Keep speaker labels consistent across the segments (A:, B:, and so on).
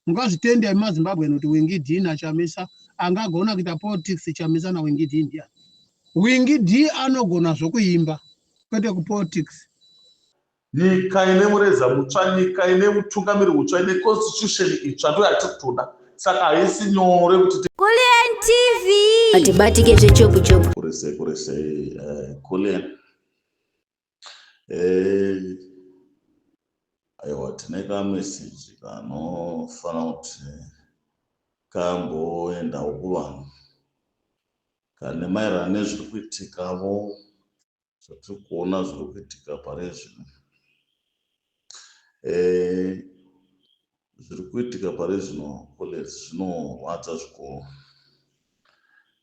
A: Mukazvitenda imi maZimbabwe kuti Wingi D na Chamisa angagona kuita politics Chamisa na Wingi D ndiani? Wingi D anogona zvokuimba kwete kupolitics.
B: Nyika ine mureza mutsva, nyika ine utungamiri hutsva, ine constitution itsva ndiyo yatiri kutoda saka haisi nyore kuti Kullian TV
C: hatibatike zvechopu chopu. Kurese kurese
B: eh, Kullian. Eh, aiwa tine kameseji kanofanira kuti kamboendawo kuvanhu kane maererano nezviri kuitikavo zvatiri kuona zviri kuitika pari zvino eh, zviri kuitika pari zvino college zvinorwadza zvikuru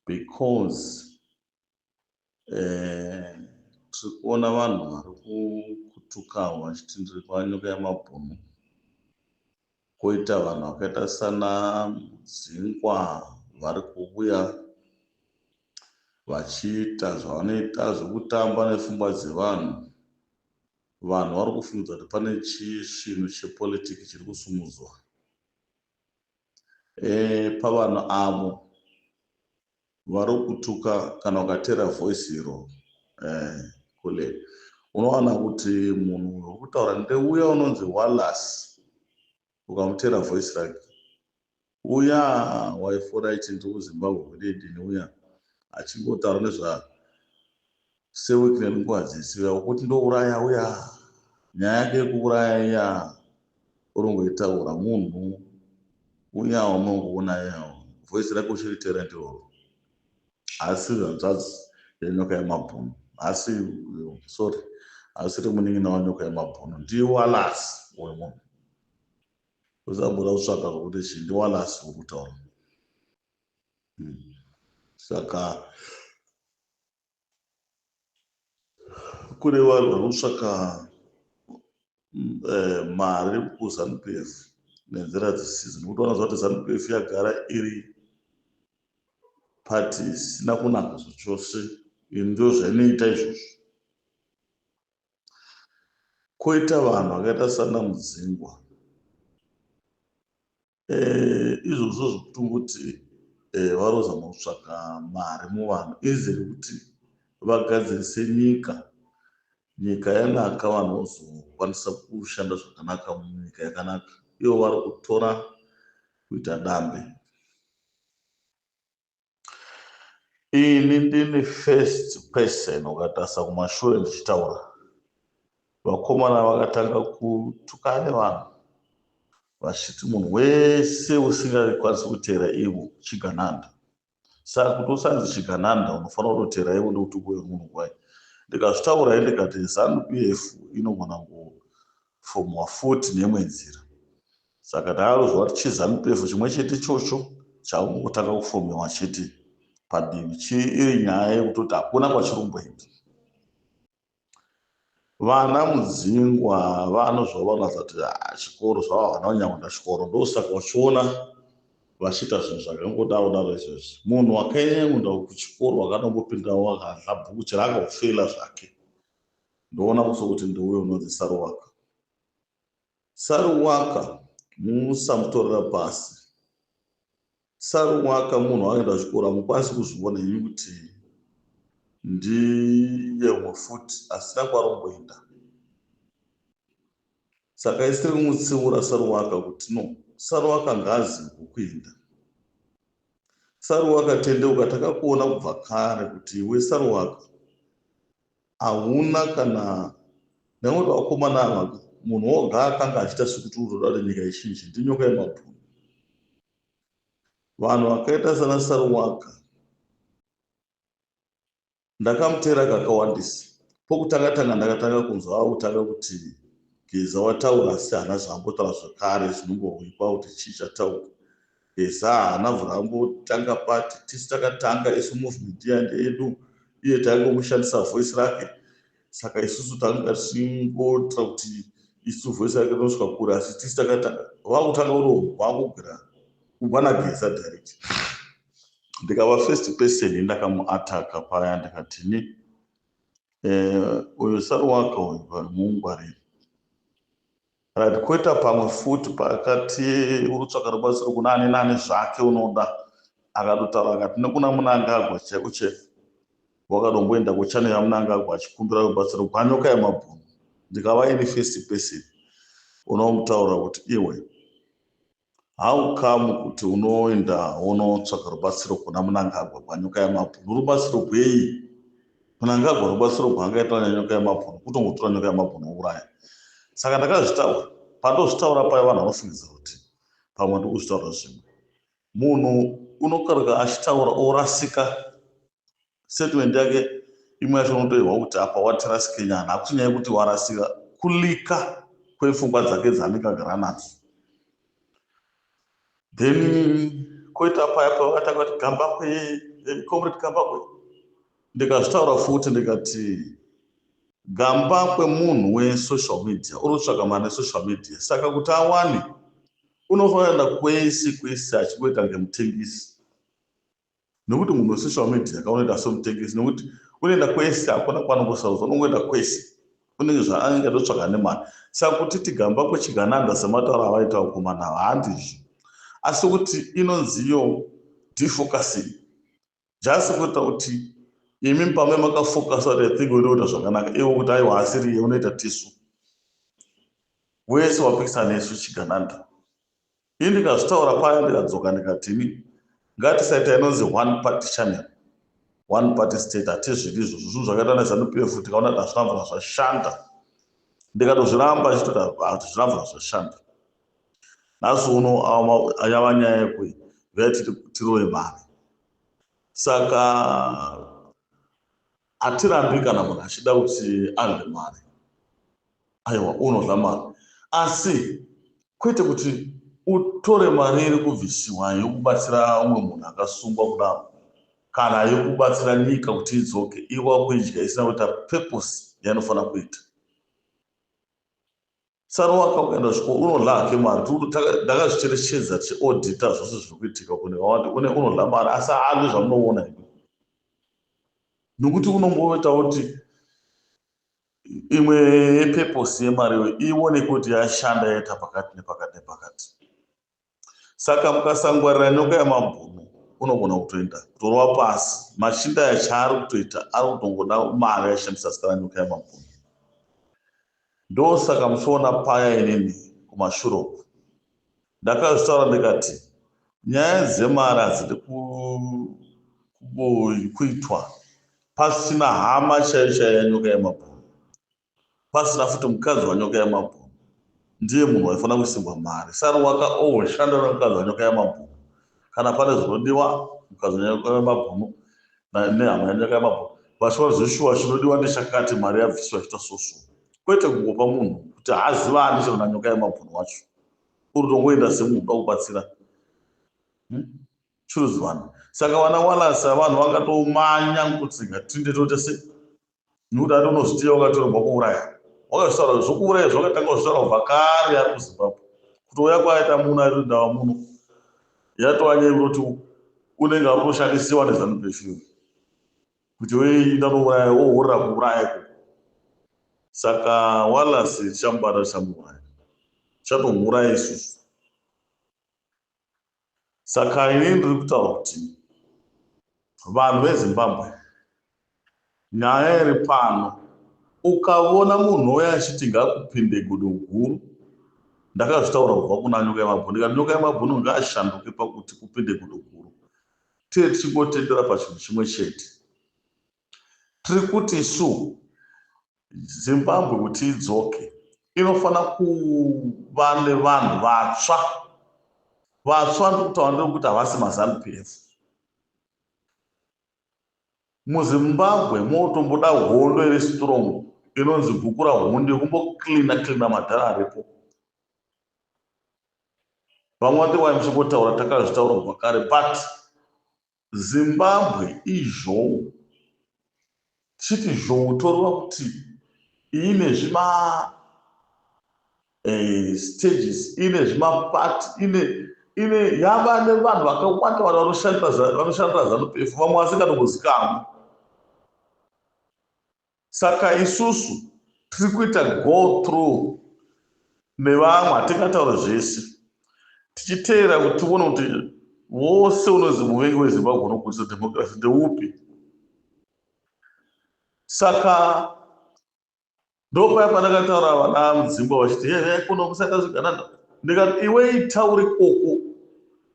B: because Eh, tiri kuona vanhu vari kutukawo vachiti ndiri kwanyuka yemabhunu koita vanhu vakaita sana mudzingwa vari kuuya vachiita zvavanoita zvekutamba nefungwa dzevanhu vanhu vari kufungidza kuti pane chisvinu chepolitiki chiri kusumudzwa e, pavanhu avo Varikutuka kana ukateera voice iro eeh kule unowana kuti munhu uyo urikutaura ndeuya unonzi Wallace ukamuteera voice rake uya waifora ichinzi uZimbabwe hwededini uya achingotaura nezva seweek nenguva dzese uya ukuti ndouraya uya nyaya yake yekuuraya iya uringoitaura munhu uya wamunongoona iya voice rake uchiri talent iroro haasi hanzvadzi yenyoka yemabhunu haasi sorry haasiri munin'ina wanyoka yemabhunu ndiwalasi uyu munhu usamboda kutsvaka kuti chii ndiwalasi wekutaura hmm. saka kune vanhu vari kutsvaka eh, mari kuzanupf nenzira dzisidzo nekuti vanoziva kuti zanupf yagara iri pati isina kunaka zvachose ndo zvainoita izvozvo koita vanhu vakaita sana mudzingwa Eh, izvozvo zvekutongoti eh, varoza mukutsvaga mari muvanhu izi rekuti vagadzirise nyika nyika yanaka vanhu vozokwanisa kushanda zvakanaka munyika yakanaka ivo vari kutora kuita dambe ini ndini first person ukatarisa kumashure ndichitaura vakomana vakatanga kutukana nevanhu vachiti munhu wese usingakwanisi kuteera ivo chigananda saka kuti usanzi chigananda unofanira kutoteera ivo nekuti uwe munhu kwai ndikazvitaura i ndikati zanupf inogona kufomwa futi neimwe nzira Saka takanzwa kuti chiZanu-PF chimwe chete ichocho chakungotanga kufomewa chete padivi chii iri nyaya yekutoti hakuna kwachiri kumboenda. Vana Mudzingwa vanozva vanoratidza kuti ah, chikoro zvava vana vanyakuenda chikoro ndosaka vachiona vachiita zvinhu zvakangodaro daro izvezvi. Munhu wakaenda kuchikoro wakanombopindawo wakadla bhuku chero akafeila zvake ndoona kuso kuti ndiuyo unonzi Saruwaka. Saruwaka musamutorera pasi. Saruwaka munhu anoenda kuchikoro hamukwanisi kuzviona imi kuti ndiye umwe futi asina kwaromboenda. Saka isi tiri kumutsiura Saruwaka kuti no, Saruwaka ngazi kukuinda. Saruwaka tendeuka takakuona kubva kare kuti iwe Saruwaka ahuna kana nekuti vakomana ava munhu woga akanga achiita sekuti unoda kuti nyika ichinje ndinyoka yemabhunu vanhu vakaita sana saruwaka ndakamuteera kakawandisa pokutanga tanga ndakatanga kunzwa akutanga kuti geza wataura asi hana zvaambotaura zvekare zvinongohwikwa kuti chii chataura Esa haana vhura ambotanga pati tisu takatanga isu movement iya ndeyedu iye taingongoshandisa voice rake saka isusu tanga tichingoitira kuti isu voice rake rinosvika kure asi tisu takatanga vakutanga uromo vakugwira kubva nageza direct ndikava first person yendakamuataka paya ndikatini eh, uyo sari waka uyu mungwariri Right, koita pamwe futi pakati unotsvaka rubatsiro kuna ani nani zvake unoda akatotaura akati nekuna munangagwa chaiko chef wakadomboenda kuchannel yamunangagwa achikumbira rubatsiro gwanyoka yemabhunu ndikava ini first person unomutaura kuti iwe How come kuti unoenda wonotsvaga rubatsiro kuna Munangagwa gwanyoka yamabhunu? Rubatsiro gwei? Munangagwa rubatsiro gwaangaita nyanyoka yamabhunu kutongotora nyoka yamabhunu wouraya. Saka ndakazvitaura, pandozvitaura paya vanhu vanofungidzira kuti pamwe ndiri kuzvitaura zvimwe. Munhu unokaruka achitaura orasika Statement yake imwe yacho unotoihwa kuti apa watrust Kenyan hakusi nyaya yekuti warasika kulika kwepfungwa dzake dzanika granadzo then koita paya pavakatanga kuti gambakwe eh, comrade gambakwe ndikazvitaura futi ndikati gambakwe munhu wesocial media uri kutsvaga mari nesocial media saka kuti awane unofanira kwese kwese achingoita ngemutengisi Nokuti munhu wese social media kaunoita somutengesi nokuti unoenda kwese hakuna kwaanongosarudza unongoenda kwese unenge zvaanenge ndotsvaga nemari saka kuti tigamba kwechigananda sematauro avaita vakomana ava handizvo asi kuti inonziyo defocusing just kuita kuti imi pamwe makafocus kuti ithing unoita zvakanaka ivo kuti aiwa asiriye unoita tisu wese wapikisa nesu chigananda Ini ndikazvitaura paye ndikadzoka ndikati ini ngatisaita inonzi one party channel one party state hatizvidi izvozvo zvinhu zvakaita nezanu pf tikaona kuti hazvina mvura zvashanda ndikatozviramba achitoti hazvina mvura zvashanda nhasi uno yava nyaya yekui vea tiri tirove mari saka Hatirambi kana munhu achida kuti adle mari aiwa unodla mari asi kwete kuti utore mari iri kubvisiwa yokubatsira umwe munhu akasungwa kudaro kana yokubatsira nyika kuti idzoke iwa kuidya isina kuita purpose yainofanira kuita Tsano wakauya ndosviko unodla hake mari ndakazvicherechedza tichiodhita zvose zviri kuitika kune vawati une unodla mari asi haadli zvamunoona imi nokuti unongoita kuti imwe yepeposi yemari iyo iwoneke kuti yashanda yaita pakati nepakati nepakati saka mukasangwarira nyoka yamabhunu unogona kutoenda kutorova pasi machinda aya chaari kutoita ari kutongoda mari ashandisa zita ranyoka yamabhunu ndosaka muchiona paya inini kumashure uku ndakazvitaura ndikati nyaya dzemari hadzidi kuitwa pasina hama chaiyo chaiya nyoka yemabhunu pasina futi mukadzi wanyoka yamabhunu ndiye munhu waifanira kusimbwa mari sari waka always shanda nemukadzi wanyoka yamabhunu kana pane zvinodiwa mukadzi wanyoka yamabhunu nehama yanyoka yamabhunu vachiona zveshuwa chinodiwa ndechakati mari yabviswa chita soso kwete kungopa munhu kuti haaziva ani chero nanyoka yamabhunu wacho uri tongoenda semunhu uda kubatsira hmm? churuzivana saka vana walasa vanhu vakatoumanya kutsinga tinde toita sei nekuti ati unozviziva wakatorerwa kuuraya wakazvitaura zvokuuraya zvakatanga kuzvitaura kubva kare ari kuzimbabwe kutouya kwaita muno airi ndava muno yatova nyaya yekutoti unenge ari kutoshandisiwa nezanupf kuti weenda unouraya wohurira kuuraya ko saka walasi tichamubata tichamuuraya tichatomuuraya isusu Saka ini ndiri kutaura kuti vanhu veZimbabwe, nyaya iri pano, ukavona munhu ouya achiti ngaakupinde godo guru, ndakazvitaura kubva kuna Nyoka Yemabhunu ndikati Nyoka Yemabhunu ngaashanduke pakuti kupinde godo guru. Tee tichingotendera pachinhu chimwe chete, tiri kuti isu Zimbabwe kuti idzoke inofanira kuva nevanhu vatsva vatsva ndiri kutaura ndevekuti havasi mazanu pf muzimbabwe motomboda hondo iri strong inonzi gukura hundi yekumboclina clina madhara aripo vamwe vati wai muchingotaura takazvitaura kubva kare but Zimbabwe izhou chiti zhou toreva kuti ine zvima eh, stages ine zvima part ine ine yava nevanhu vakawanda vanhu vanoshandira vanoshandira zanu pefu vamwe vasingatombozikamwi Saka isusu tiri kuita go through nevamwe hatingataure zvese tichiteera kuti tione kuti vose unonzi muvengi wezimbabwe unokudzisa democracy ndeupi saka ndopaya pandakataura vana mudzimba vachiti hehe kuno kusaka zviganana ndikati iwe ita uri koko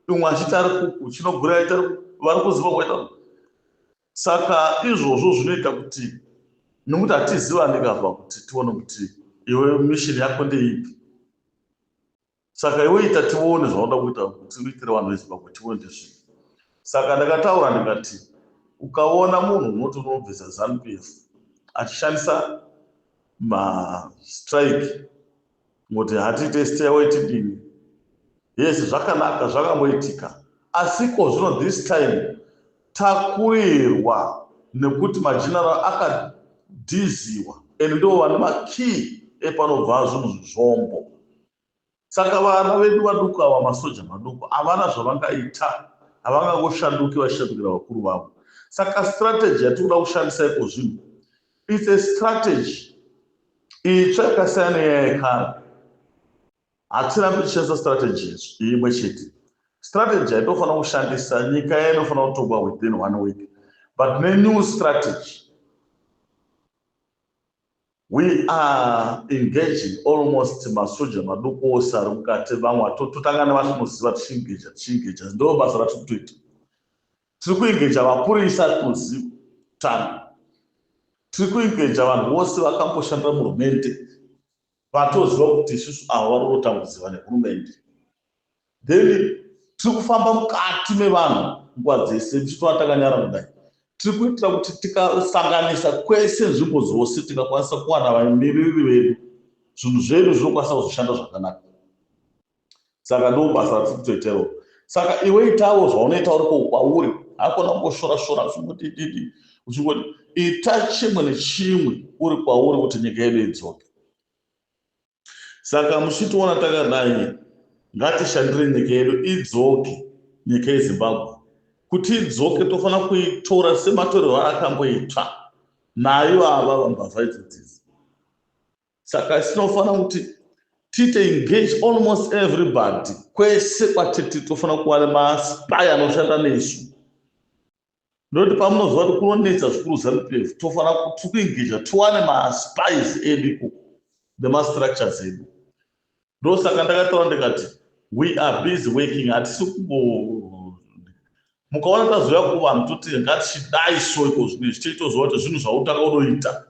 B: imwe achiti ari kuku chinogura ita vari kuziva kwaita Saka izvozvo zvinoita kuti nokuti hatizivani kava kuti tione kuti iwe mission yako ndeipi saka iwe ita tione zvaunoda kuita kuti uitire vanhu vezimbabwe tiwe ndizvi saka ndakataura ndikati ukaona munhu unoti unobvisa zanupf achishandisa mastrike Moti hatiite stairway tidini? Yes zvakanaka zvakangoitika asi ko zvino this time takurirwa nekuti mageneral akadhiziwa and ndivo vane makey epanobva zvinhu zvombo saka vana vedu vaduku ava masoja maduku havana zvavangaita havangangoshanduki vachishandukira vakuru vavo saka strategy yatikuda kushandisa iko zvinhu It's a strategy itsva yakasiyana nenyaya yekare hatina kuchishandisa strategy imwe chete strategy haitofanira kushandisa nyika yayo inofanira kutongwa within one week but nenew strategy we are engaging almost masoja maduku ose ari mukati vamwe totanga nevatonoziva tichingeja tichingeja ndo basa ratiri kutoita Tiri kuengeja mapurisa kuZim-Tanga. Tiri kuengeja vanhu vose vakamboshandira muhurumende vatoziva kuti isusu ava vari kutotambudzirwa nehurumende. Then tiri kufamba mukati mevanhu nguva dzese tichitova takanyara kudai tiri kuitira kuti tikasanganisa kwese nzvimbo dzose tingakwanisa kuwana vamiririri vedu zvinhu zvedu zvinokwanisa kuzoshanda zvakanaka saka ndobasa ratirikutoitero saka iwe itawo zvaunoita uriko kwauri hakona kungoshora shora uchingotititi uchingoti ita chimwe nechimwe uri kwauri kuti nyika yedu idzoke saka muchitiona takadai ngatishandire nyika yedu idzoke nyika yezimbabwe kuti idzoke tofanira kuitora sematorero akamboitwa nayo ava vambavha idzodzizi saka tinofanira kuti tiite engage almost everybody kwese kwatiti tofanira kuva nemaspy anoshanda nesu ndokuti pamunozova kuti kunonetsa zvikuru zanupefu tofanira kuti kuengeja tiwane maspies edu ikoko nemastructures edu ndosaka ndakataura ndikati we are busy working hatisi kumbo mukaona tazouya kuvanhu toti ngatichidai so iko zvine zvichaitozova kuti zvinhu zvautanga unoita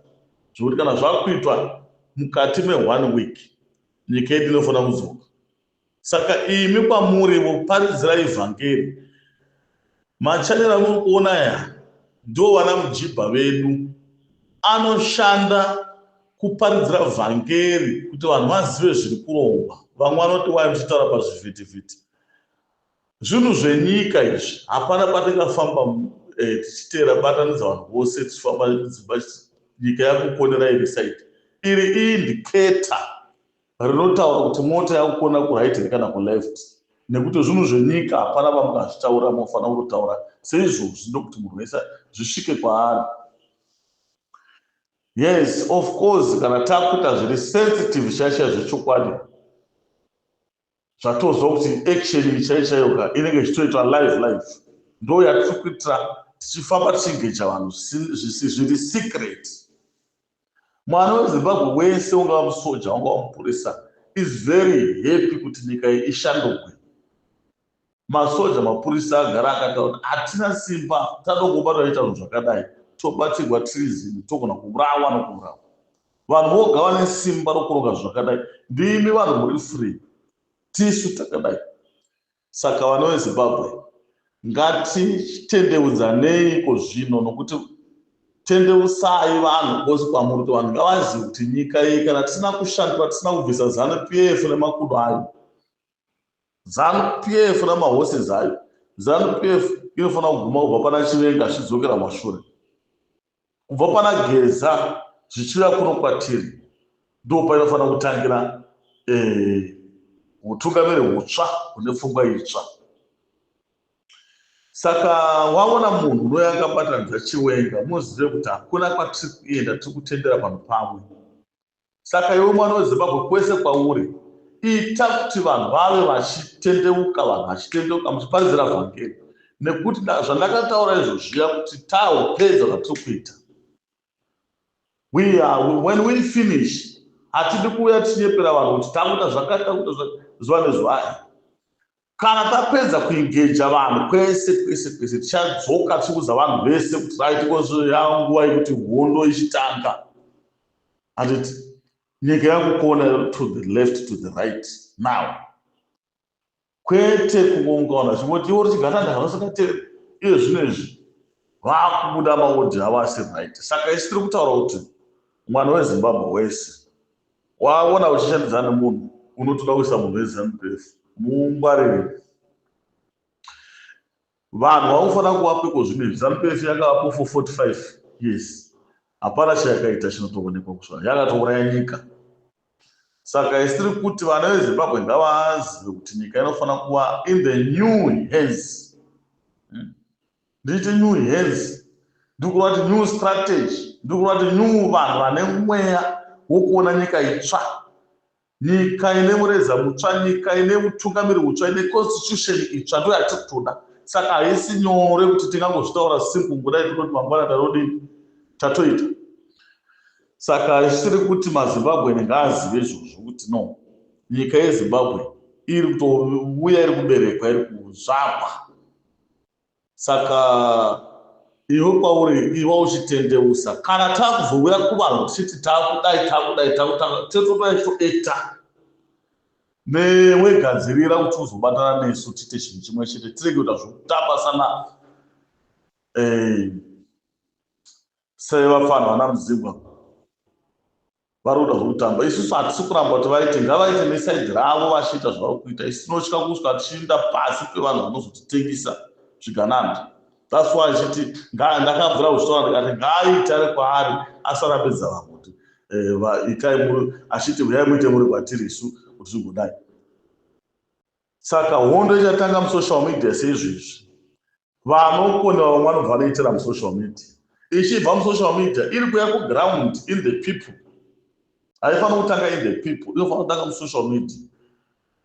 B: zvekuti kana zvakuitwa mukati meone week nyika yedu inofanira kudzoka saka imi kwamurivo paridzirai vhangeri Ma channel amuri kuona aya ndiwo vana mujibha vedu anoshanda kuparidzira vhangeri kuti vanhu vazive zviri kurongwa. Vamwe vanoti why muchitaura pazvivhitivhiti. Zvinhu zvenyika izvi hapana kwatingafamba eh, tichiteera batanidza vanhu vose tichifamba dzimba nyika yakukonera iri side iri indicator rinotaura kuti mota yakukona kuright here kana kuleft nekuti zvinhu zvenyika hapana vamungazvitaura mofanira kutotaura seizvozvi ndokuti munhu wese zvisvike kwaari yes of course kana takuita zviri sensitive shasha zvechokwadi zvatozwa kuti action iyi chaiyo chaiyo ka inenge ichitoitwa live live ndo yatiri kuitira tichifamba tichingeja vanhu zviri secret mwana wezimbabwe wese ungava musoja wanga wamupurisa is very happy kuti nyika iyi ishandugwe Masoja, mapurisa agara akataura kuti hatina simba tatongobatwa tichiita zvinhu zvakadai tobatirwa tiri zim togona kuurawa nokuurawa. Vanhu voga vane simba rokuronga zvinhu zvakadai ndimi vanhu muri free tisu takadai. Saka vana veZimbabwe ngatitendeudzanei iko zvino nokuti tendeusai vanhu vose kwamuri kuti vanhu ngavazive kuti nyika iyi kana tisina kushandura tisina kubvisa zanu PF nemakudo ayo Zanu PF na ma horses ayo. Zanu PF inofanira kuguma kubva pana Chivenga zvichidzokera kumashure. Kubva pana Geza zvichiuya kuno kwatiri. Ndipo painofanira kutangira eh, hutungamiri eh, hutsva hune pfungwa itsva. Saka waona munhu unouya akabatanidza Chiwenga muzive kuti hakuna kwatiri kuenda tiri kutendera vanhu pamwe. Saka iwe mwana weZimbabwe kwese kwauri ita kuti vanhu vave vachitendeuka vanhu vachitendeuka muchiparidzira vhangeri nekuti zvandakataura izvo zviya kuti taupedza zvatiri kuita when we finish hatidi kuuya tichinyepera vanhu kuti takuita zvakati takuita zuva nezuva Kana tapedza kuingeja vanhu kwese kwese kwese, tichadzoka tichiudza vanhu vese kuti right coz yava nguva yekuti hondo ichitanga. Handiti nyika yakukona to the left to the right now kwete kungongaona chingoti iwo richigatanda hanosakatera iye zvino izvi vakubuda maodi avo asiri right saka isi tiri kutaura kuti mwana wezimbabwe wese Waona uchishandidzana nemunhu unotoda kuisa munhu weZanu PF muungwarire. Vanhu vakufanira kuvapiko zvino izvi. Zanu PF yakavapo for 45 years. Hapana chayakaita chinotoonekwa kusvara. Yakatouraya nyika. Saka isiri kuti vana veZimbabwe ngavazive kuti nyika inofanira kuva in the new hands. Hmm. Nditi new hands, ndiri kureva kuti new strategy, ndiri kureva kuti new vanhu vane mweya wokuona nyika itsva, nyika ine mureza mutsva, nyika ine mutungamiri mutsva, ine constitution itsva, ndiyo yatiri kutoda. Saka haisi nyore kuti tingangozvitaura simple kudai tototi mangwana tarodii, tatoita. Saka isiri kuti maZimbabwean ngaazive izvozvo kuti no, nyika yeZimbabwe iri kutouya iri kuberekwa, iri kuzvagwa. Saka iwe kwauri iva uchitendeusa kana takuzouya kuvanhu tichiti takudai takudai takutanga tototanga tichitoekta newe gadzirira kuti uzobatana nesu tiite chinhu chimwe chete tirege kuita zvekutamba sana eh, sevafana vana muzimbabwe vari kuda zvekutamba isusu hatisi kuramba kuti vaite ngavaite nesaidi ravo vachiita zvavari kuita isu tinotya kusvika tichiinda pasi pevanhu vanozotitengisa zvigananda that's why achiti ndakabvira kuzvitaura ndikati ngaaite ari kwaari asarambidza vamwe kuti eh, itai muri achiti huyai muite muri kwatiri isu kuti zvigodai saka hondo ichatanga musocial media seizvi izvi vanokona vamwe vanobva vanoitira musocial media ichibva musocial media iri kuya kuground in the people haifanira kutanga in the people inofanira kutanga musocial media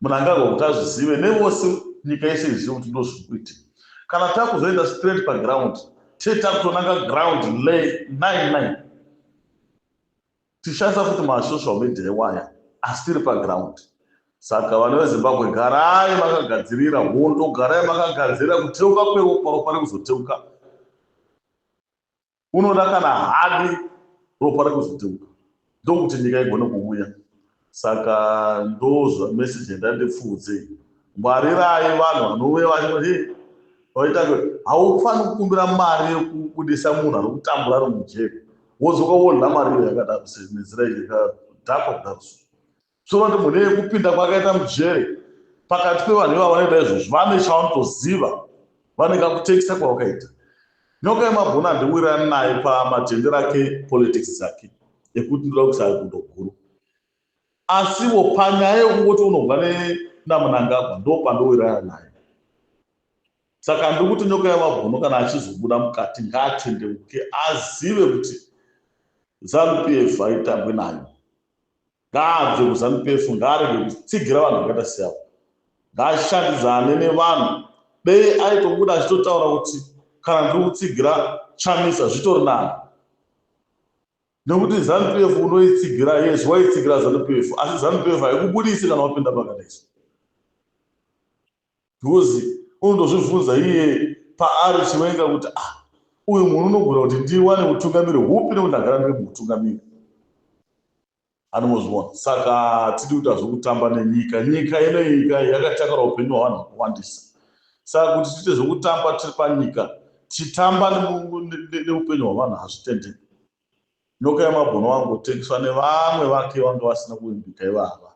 B: munhu angarwa kuti azvizive nevose nyika yese izive kuti ndo zviri kuitika kana takuzoenda straight paground tee takutonanga ground lay nine nine Tichanzwa kuti ma social media iwaya asi tiri pa ground. Saka vana veZimbabwe garai makagadzirira hondo, garai makagadzirira kuteuka kweropa, ropa rekuzoteuka. Unoda kana hadi ropa rekuzoteuka ndokuti nyika igone kuvuya. Saka ndozva message yandandipfuudze iyi. Ngwarirai vanhu vanove vachiti vaita kuti haufaniri kukumbira mari yekubudisa munhu ari kutambura ari mujeri wodzoka wodla mari iyo yakadaro nenzira yekadhakwa kudaro so sure kuti mune yekupinda kwakaita mujeri pakati pevanhu ivavo vanoita izvozvo vane chavanotoziva vane kakutekisa kwawakaita nyoka yemabhuna ndiwira nayo pamatende rake politics dzake ekuti ndoda kuisa gundo guru asiwo panyaya yekungoti unobva namunangagwa ndo pandowirana naye saka ndiri kuti nyoka yemabhunu kana achizobuda mukati ngaatendeuke azive kuti zanupf haitambwe nayo Ngaabve kuZanu-PF ngaarege kutsigira vanhu vakaita seava. Ngaashandidzane nevanhu. Dei aitobuda achitotaura kuti kana ndiri kutsigira Chamisa zvitori nani. Nekuti Zanu-PF unoitsigira yes waitsigira Zanu-PF asi Zanu-PF haikubudisi kana wapinda pakadai so. Jozi unotozvibvunza iye paari Chiwenga kuti ah uyu munhu unogona kuti ndiwane hutungamiri hupi nekuti ndagara ndiri muhutungamiri. Anombozviona saka hatidi kuita zvekutamba nenyika. Nyika inoika yakatakura hupenyu hwevanhu vakawandisa saka kuti tiite zvekutamba tiri panyika tichitamba neupenyu hwevanhu hazvitendeki. Nyoka yamabhunu wangotengeswa nevamwe vake vanga vasina kuvimbika ivava.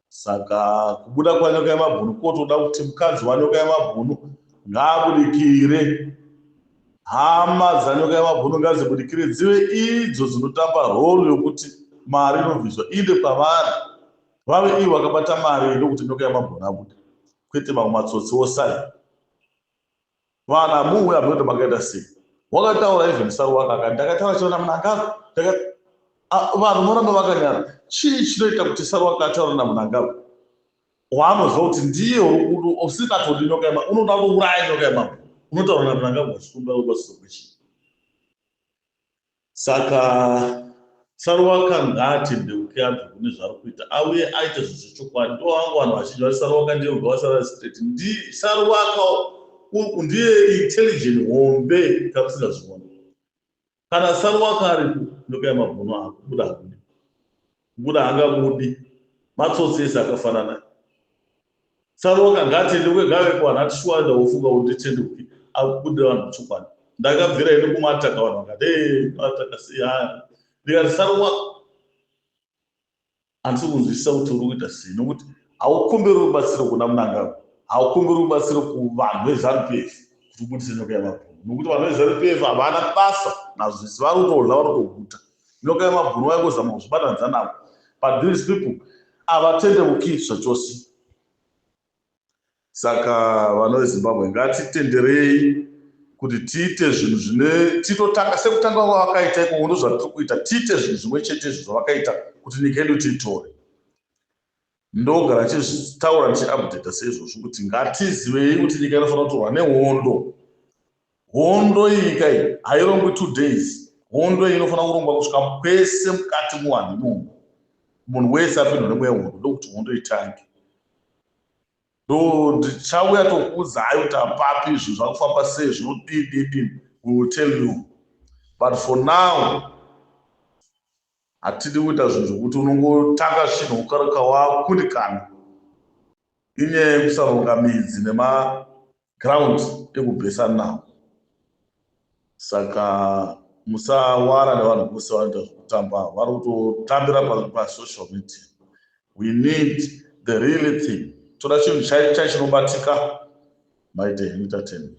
B: Saka kubuda kwanyoka yamabhunu kotoda kuti mukadzi wanyoka yamabhunu ngaabudikire. Hama dzanyoka yamabhunu ngadzibudikire dzive idzo dzinotamba role yokuti mari inobviswa iende kwavari. Vave ivo vakabata mari ndokuti nyoka yamabhunu abude. Kwete mamwe matsotsi osai. Vana muwe abroad makaita sei? Wakataura even saru wanga akati ndakataura chiona munangagwa ndaka ah, vanhu moramba vakanyara chii chinoita kuti saru wanga ataura namunangagwa waanoziva kuti ndiye usingatori nyoka yema unoda kuuraya nyoka yemambo unotaura namunangagwa chikumbira ubatsiro kwechii Saka Saruwaka ngaatendeuke abve kune zvaari kuita auye aite zvinhu zvechokwadi. Ndivo vangu vanhu vazhinji vati Saruwaka ndiye wega wasara ari straight. Ndi Saruwaka u- ndiye intelligent hombe tamusingazvioni. Kana Saruwaka aripo ndokaya mabhunu ako buda hako. Mukuru haangamudi. Matsotsi ese akafanana. Saroka ngaatende uye ngaave kuvanhu ati shuwa enda wofunga kuti nditende kupi akubudira vanhu muchokwadi. Ndakabvira ini kumataka vanhu vakati ee mataka sei haya. Ndikati Saroka handisi kunzwisisa kuti uri kuita sei nokuti haukumbiri rubatsiro kuna Mnangagwa haukumbiri rubatsiro kuvanhu veZanu PF kuti ubudise nyoka yemabhunu nokuti vanhu veZanu PF havana basa nazvese vari kutodla vari kutoguta. nyoka yemabhuru vaingozama kuzvibatanidza navo but these people havatendeuki zvachose saka vana vezimbabwe ngatitenderei kuti tiite zvinhu zvine titotanga sekutanga kwavakaita ikomo ndozvatiri kuita tiite zvinhu zvimwe chete izvo zvavakaita kuti nyika yedu tiitore Ndogara tichitaura ndichiupdater seizvozvi kuti ngatizivei kuti nyika inofanira kutorwa nehondo. Hondo iyi nyika iyi hairongwi two days. Hondo iyi inofanira kurongwa kusvika pese mukati muvanhu imomo. Munhu wese apindwa nemweya wehondo ndokuti hondo itange. Do ndichauya tokuudzai kuti apapi izvi zvakufamba sei zvinodii dii dii. We will tell you. But for now Hatidi kuita zvinhu zvekuti unongotanga zvinhu ukareka wakundikana. Inyaya yekusaronga midzi nemaground ekubhesa nawo. Saka musawara nevanhu vose vanoita zvekutamba vari kutotambira pasocial media. We need the real thing. Toda chinhu chaicho chinobatika. Maite entertainment.